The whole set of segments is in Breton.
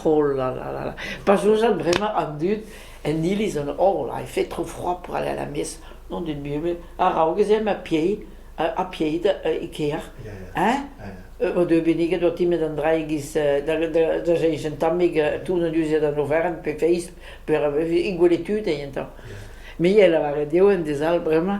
Oh la la la la, pa soñjan bremañ an dud en iliz an oh là, il fait trop froid pour aller à la messe, nom d'une Bible, araok ez eo ma piei, ha pieit e kêr, hein? O deu benniget o timet an dra e-giz da da da jeich un tammig toun an duziad an oferen pe feiz, pe e gwele tud eo entañ. Me a lavaret eo en dez all bremañ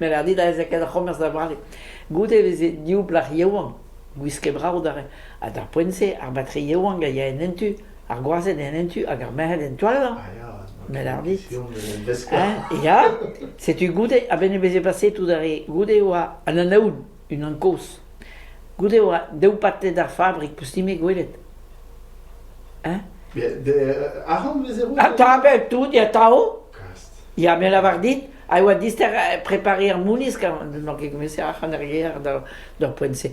Met ar dit a veze ket ar c'homerz da vale. Goude e veze div blac'h yaouank, gwisket brav d'ar re. Ha d'ar poent-se, ar batri yaouank a ya en en tu, ar gwazed en en tu hag ar merc'hed en toaz. Ah, ya, Met ar dit, pion eus an veskoù. hein, ya, setu goude a-benn e veze paseet tout ar re. Goude e oa an anaoud, unan kozh. Goude e oa daou patled ar fabrik, peus-ni me gwelet. Hein? De, de, arc'hant vez e roet? Atav, bel tout, ya, tao. Kas. Ya, me a lavar dit, a yoa dister prepariñ ar moulisk, n'on ket gouest ac'han ar ger d'ar poent-se.